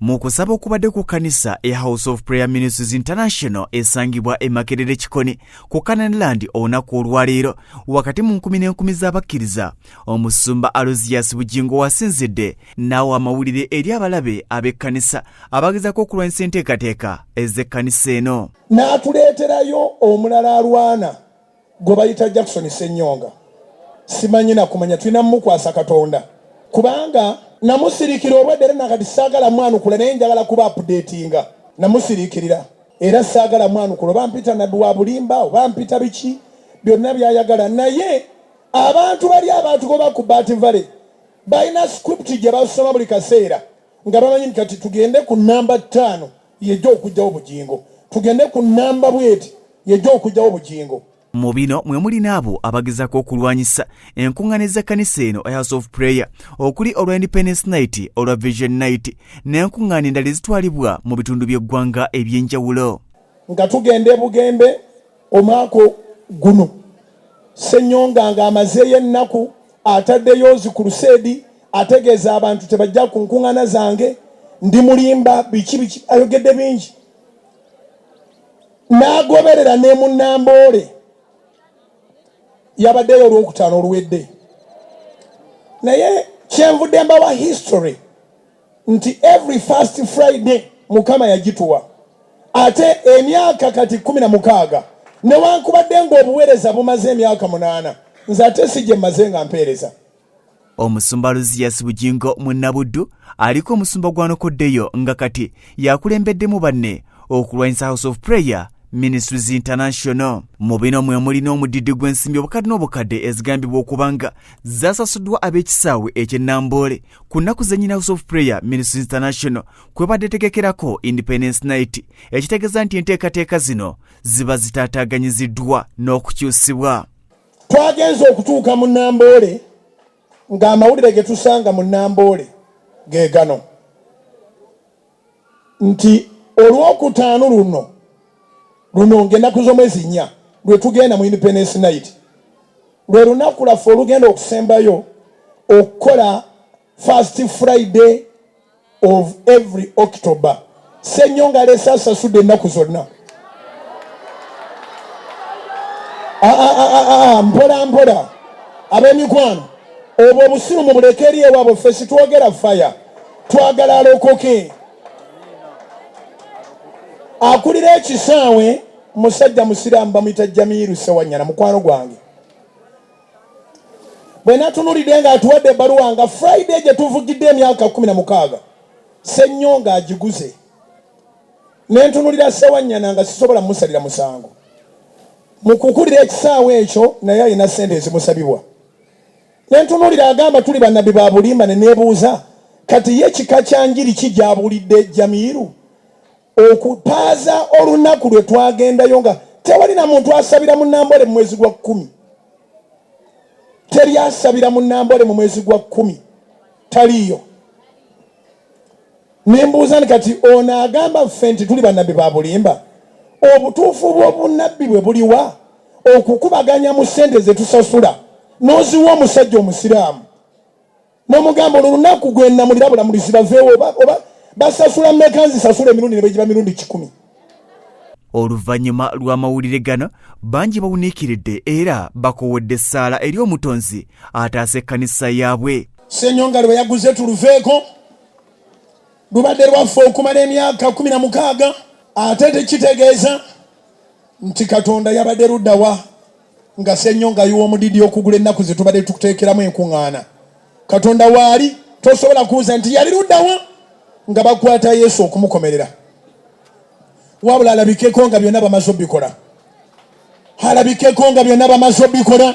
Mu kusaba okubadde ku kkanisa e House of Prayer Ministries International esangibwa e Makerere Kikoni ku Canaan Land olunaku olwaleero wakati mu nkumi n'enkumi z'abakkiriza, omusumba Alozias Bugingo wasinzidde n'awa amawulire eri abalabe ab'ekkanisa abagezaako okulwanyisa enteekateeka ez'ekkanisa eno. N'atuleeterayo omulala alwana gwe bayita Jackson Senyonga simanyi nakumanya tulina mumukwasa Katonda kubanga namusirikira obwedda era nakati saagala mwanukula naye njagala kuba apudeetinga namusirikirira era saagala mwanukula oba mpita nabbi wa bulimba oba mpita biki byonna byayagala naye abantu bali abaatugoba ku bat valley balina script gye basoma buli kaseera nga bamanyi nti kati tugende ku namba ttaano yejja okujjawo bugingo tugende ku namba bweti yejja okujjawo bugingo mu bino mwe mulina abo abagezako okulwanyisa enkuŋŋaana ez'ekkanisa eno house of prayer okuli olwa independence night olwa vision night n'enkuŋŋaana endala ezitwalibwa mu bitundu by'eggwanga eby'enjawulo nga tugenda ebugembe Omwaka guno Ssenyonga ng'amazeeyo ennaku ataddeyo zi kuluseedi ategeeza abantu tebajja ku nkung'ana zange, ndi mulimba biki biki ayogedde bingi n'agoberera ne mu Namboole yabaddeyo olwokutaano oluwedde naye kyenvudde mbawa history. nti every first Friday mukama yagituwa ate emyaka kati kumi na mukaaga newankubadde ng'obuweereza bumaze emyaka munaana nze ate si gye mmaze nga mpeereza omusumba luziyasi bugingo munnabuddu aliko omusumba gwanokoddeyo nga kati yakulembeddemu banne okulwanyisa house of prayer ministries international mu bino mwe mulina omudidi gw'ensimbi obukadde n'obukadde ezigambibwa okubanga zasasuddwa ab'ekisaawe ekye namboole ku nnaku zennyini house of prayer ministry international kwebadde tegekerako independence night ekitegeeza nti enteekateeka zino ziba zitaataaganyiziddwa n'okukyusibwa twagenze okutuuka mu namboole ng'amawulire ge tusanga mu namboole ge gano nti olwokutaano luno luno ng'ennaku z'omwezi nnya lwe tugenda mu Independence Night lwe lunaku lwaffe olugenda okusembayo okukola First Friday of every October. Ssenyonga aleese asasudde ennaku zonna. Ah, ah, ah, mpola mpola ab'emikwano obwo obusiru mubuleke eri ewaabwe ffe sitwogera faya twagala alokoke. Akulira ekisaawe musajja musiraamu bamuyita Jamiiru Sewanyana, mukwano gwange. Bwe natunulidde ng'atuwadde ebbaluwa nga Friday gye tuvugidde emyaka kumi na mukaaga Ssennyonga agiguze ne ntunulira Sewanyana nga sisobola musalira musango. Mu kukulira ekisaawe ekyo naye alina ssente ezimusabibwa. Ne ntunuulira agamba tuli bannabbi ba bulimba ne neebuuza kati ye kika kya njiri ki gy'abuulidde Jamiiru okupaaza olunaku lwe twagendayo nga tewali na muntu asabira mu Namboole mu mwezi gwa kkumi. Teri asabira mu Namboole mu mwezi gwa kkumi. Taliiyo. Nembuuza nti kati ono agamba ffe nti tuli banabbi ba bulimba, obutuufu bw'obunabbi bwe buliwa? Okukubaganya mu sente zetusasula noziwa omusajja omusiraamu nomugamba olwo lunaku gwenamulira bulamulizi baveewo oba, oba basasula meka nzisasula emirundi nebegiba mirundi kikumi. Oluvannyuma lw'amawulire gano bangi bawuniikiridde era bakowodde essaala eri omutonzi ataasa ekkanisa yaabwe. Ssenyonga lwe yaguze tuluveeko. lubadde lwaffe okumala emyaka kumi na mukaaga ate tekitegeeza nti katonda yabadde luddawa nga sennyo nga yiwa omudidi okugula ennaku ze tubadde tukuteekeramu enkuŋŋaana katonda waali tosobola kubuuza nti yali luddawa nga bakwata yesu okumukomerera wabula alabikeko nga byonna bamaze obikola alabikeko nga byonna bamaze obikola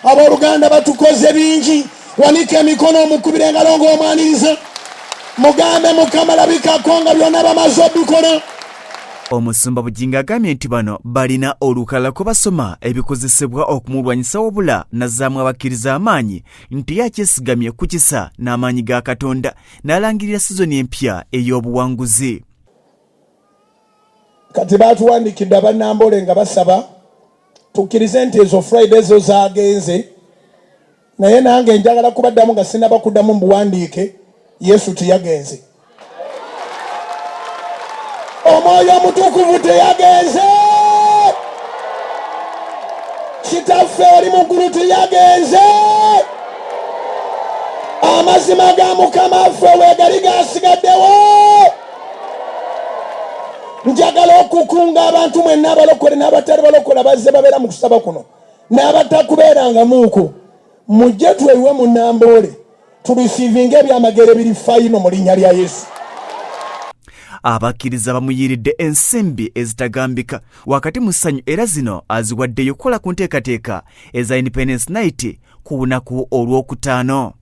abooluganda batukoze bingi wanika emikono omukubira engalo ng'omwaniriza mugambe mukama labikako nga byonna bamaze obikola omusumba bugingo agambye nti bano balina olukalala kwe basoma ebikozesebwa okumulwanyisa wabula nazaamu abakkiriza amaanyi nti yakyesigamye ku kisa n'amaanyi ga katonda n'alangirira sizoni empya ey'obuwanguzi kati baatuwandikidde abannambole nga basaba tukkirize nti ezo friday zo zaagenze naye nange njagala kubaddamu nga sinaba kuddamu mu buwandiike yesu tiyagenze omwoyo omutukuvu teyagenze kitaffe oli muggulu tiyagenze amazima ga mukama ffe wegali gasigaddewo njagala okukunga abantu mwenna abalokole n'abatali balokole abazze babeera mu kusaba kuno n'abatakubeerangamuuku mujje tweyiwe mu namboole tulisiivinga ebyamagero ebiri fayino mu linnya lya yesu abakkiriza bamuyiiridde ensimbi ezitagambika wakati mu ssanyu era zino aziwaddeyo okukola ku nteekateeka eza independence night ku lunaku olw'okutaano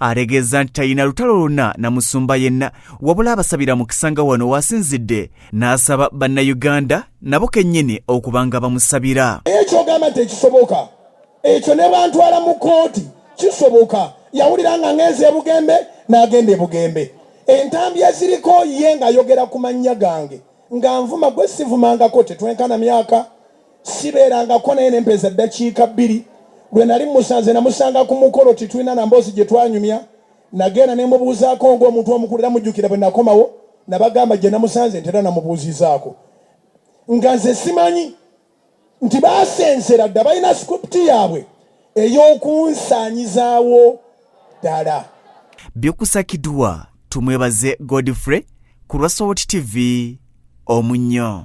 ategeezza nti talina lutalo lwonna na musumba yenna wabula abasabira mukisa nga wano waasinzidde n'asaba bannayuganda nabo kennyini okuba nga bamusabira ekyogamba nti ekisoboka ekyo ne bantwala mu kooti kisoboka yawulira nga ng'enzi ebugembe n'agenda ebugembe entambi eziriko ye ng'ayogera ku mannya gange nga nvuma gwe sivumangako tetwenkana myaka sibeerangako naye ne mpeeza ddakiika bbiri. Lwe nali mmusanze namusanga ku mukolo titulina na mboozi gye twanyumya. Nagenda ne mmubuuzaako ng'omuntu omukulu era mujjukira bwe nakomawo nabagamba gye namusanze nti era namubuuzizaako nga nze simanyi nti baasensera dda balina script yaabwe ey'okunsaanyizaawo ddala. Byokusakidwa tumwebaze Godfrey ku lwa Sowoti TV omunnyo.